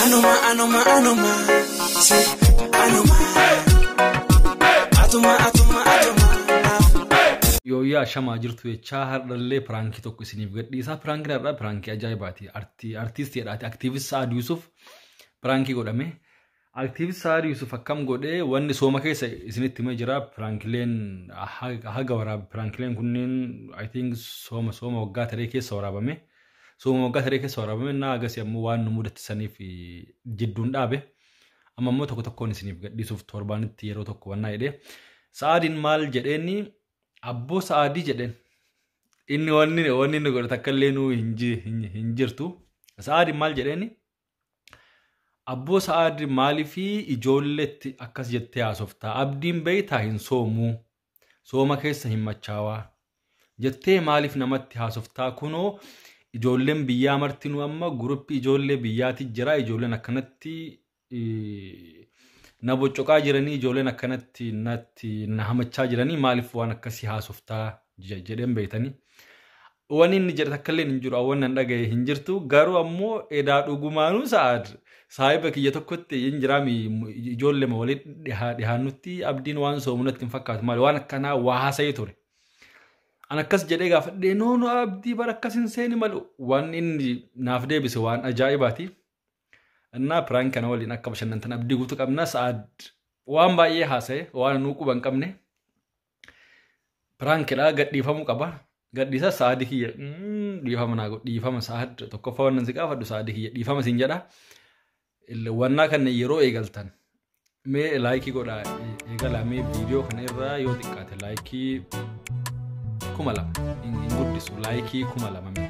Anuma anuma anuma si anuma atuma atuma atuma naaf. Yooyyaa shamaa jirtu jechaa hardhallee piraankii tokko isiniif gadhiisaa. Piraankiin har'aa piraankii ajaa'ibaati. Artiistiidhaati. Aktiivist Sa'aad Yuusuf piraankii godhame. Active Saad Yusuf akkam godhe wanni sooma keessa isinitti himee jira piraankileen ha- haga waraab piraankileen kunneen I think sooma sooma waggaa taree keessa waraabame sooma waggaa taree keessa waraabame na agasi ammoo waan nu mudatti saniif eh, jidduun dhaabe amma immoo tokko tokkoon isiniif gadhiisuuf torbaanitti yeroo tokko wannaa jedhee sa'aadiin maal jedheenni abboo sa'aadii jedheen inni wanni wanni inni godhe takka illee nuu hin ji- hin- hin jirtu sa'aadiin maal jedheenni Abboo Sa'aad maaliifii ijoolleetti akkas jettee haasoftaa? Abdiin beeytaa hin soomuu? Sooma keessa hin machaawaa? Jettee maaliif namatti haasoftaa? Kunoo ijoolleen biyyaa martinuu amma guruppii ijoollee biyyaati jira. Ijoolleen akkanatti eh, na boccoqaa jiranii, ijoolleen akkanatti natti na hamachaa jiranii maaliif waan akkasii haasoftaa? jija jedhen beeytani wani inni jedhe takkallee hin jiru awwan nan dhagaye hin jirtu garuu ammoo edaa dhugumaanuu sa'aad saahiba kiyya tokkotti hin jiraami ijoollema walii dhihaa dhihaannutti abdiin waan soomu natti hin fakkaatu maali waan akkanaa waa haasa'ee ture an akkas jedhee gaafadhee noo noo abdii bara akkas hin seeni malu waan inni naaf deebise waan ajaa'ibaati እና ፕራንክ kana waliin akka bashannantan abdii guutuu qabna sa'aad waan baay'ee haasa'e waan nuu quban qabne Piraankidha gadhiifamuu qaba. Gadhiisa sa'aadii kiyya dhiifama naa godhi dhiifama sa'aad tokkoffaa wannan si gaafadhu sa'aadii kiyya dhiifama siin jedha. Wannaa kana yeroo eegaltan mee laayikii godha eegalaa mee viidiyoo kana irraa yoo xiqqaate laayikii kuma lama hin guddisu laayikii kuma lama mee.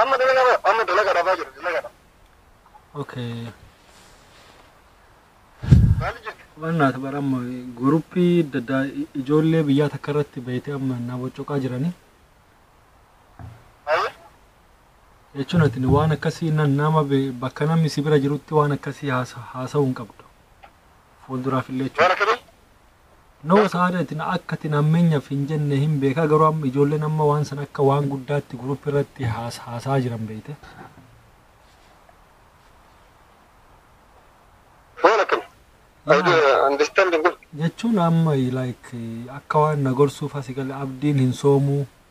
Amma dalaga bara amma dalaga dhabaa jiru dalaga dha. Okay. Maali jirti? Wannaati bara amma guruppii adda addaa i- ijoollee biyyaa takka irratti beeytee amma na boccoqaa jiranii. Maali? jechuun ati waan akkasii na- nama be- bakka namni si bira jirutti waan akkasii haasa- haasa'uu hin qabdu. Fuulduraaf illee Waan jechuudha. akkamii? Nama saadati na akkati nammenyaf hin jenne hin beeka garuu amma ijoolleen amma waan san akka waan guddaatti group irratti haas haasaa jiran beeyte. Maal akkana? I do Maal? understand good. Jechuun amma like akka waan na gorsuuf asi gale abdiin hin soomuu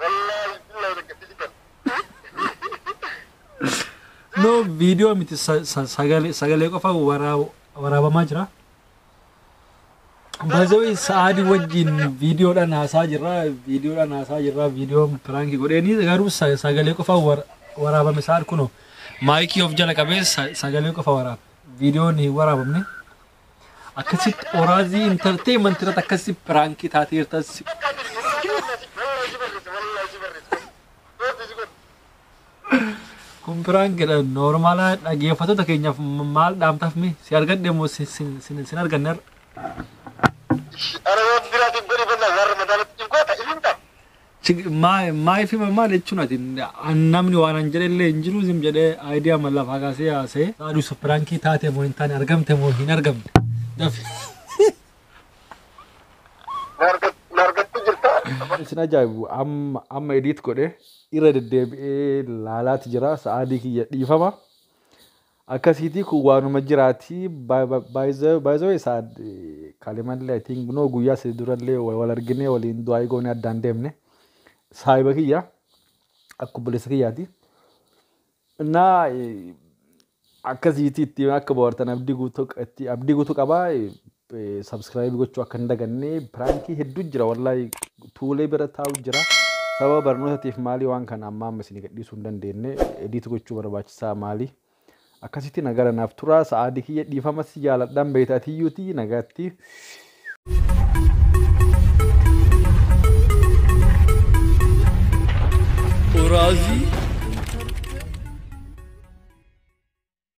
Wallaahi billahi takka si jibbadha. No viidiyoo miti sa- sa- sagalee sagalee qofa waraa- waraabamaa jira. Baazawii sa'aadii wajjin viidiyoodhaan haasaa jirra viidiyoodhaan haasaa jirra viidiyoo piraankii godheeni garuu sa- sagalee qofa war- waraabame sa'aad kunoo maayikii of jala qabee sa- sagalee qofa waraaba viidiyoon hin waraabamne. akkasitti oraazii intarteemanti irratti akkasi piraankii taateerta si kun piraankidha noormaalaa dhageeffattoota keenyaaf m- maal dhaamtaaf mi si argadhe moo si- si- si- sin arganne har'a Ana yoo biraatiif godhi bannaa warra madaalatti hin goota ilin ta'a. Sig my my fi my maal jechuun ati an namni waan an jedhe illee hin jiru zim jedhee idea man lafaa kaasee haasee. Saadu sa pirankii taate moo hin taane argamte moo hin argamne dafi. Nargatti jirta. Isin ajaa'ibu amma amma edit godhe irra deddeebi'ee laalaati jira sa'aadii kiyya dhiifama. Akkasiitii kun waanuma jiraatii by the way saad kalimallee I think no guyyaa sadi durallee wal arginee waliin du'aa goonee addaan deemne saahiba kiyya akka obboleessa kiyyaati. Innaa akkasiitii itti akka bohaartan abdii guutuu itti abdii guutuu qabaa Subscribe gochuu akka hin daganne piraankii hedduu jira wallahi tuulee bira taa'u jira. Sababa barnootatiif maalii waan kana ammaa amma isin gadhiisuu hin dandeenye ediit gochuu barbaachisaa maalii. Akkasitti nagara naaf turaa sa'aadii kiyya dhiifama si jaaladhaan beekta atiyyuuti nagaatti. Uraazii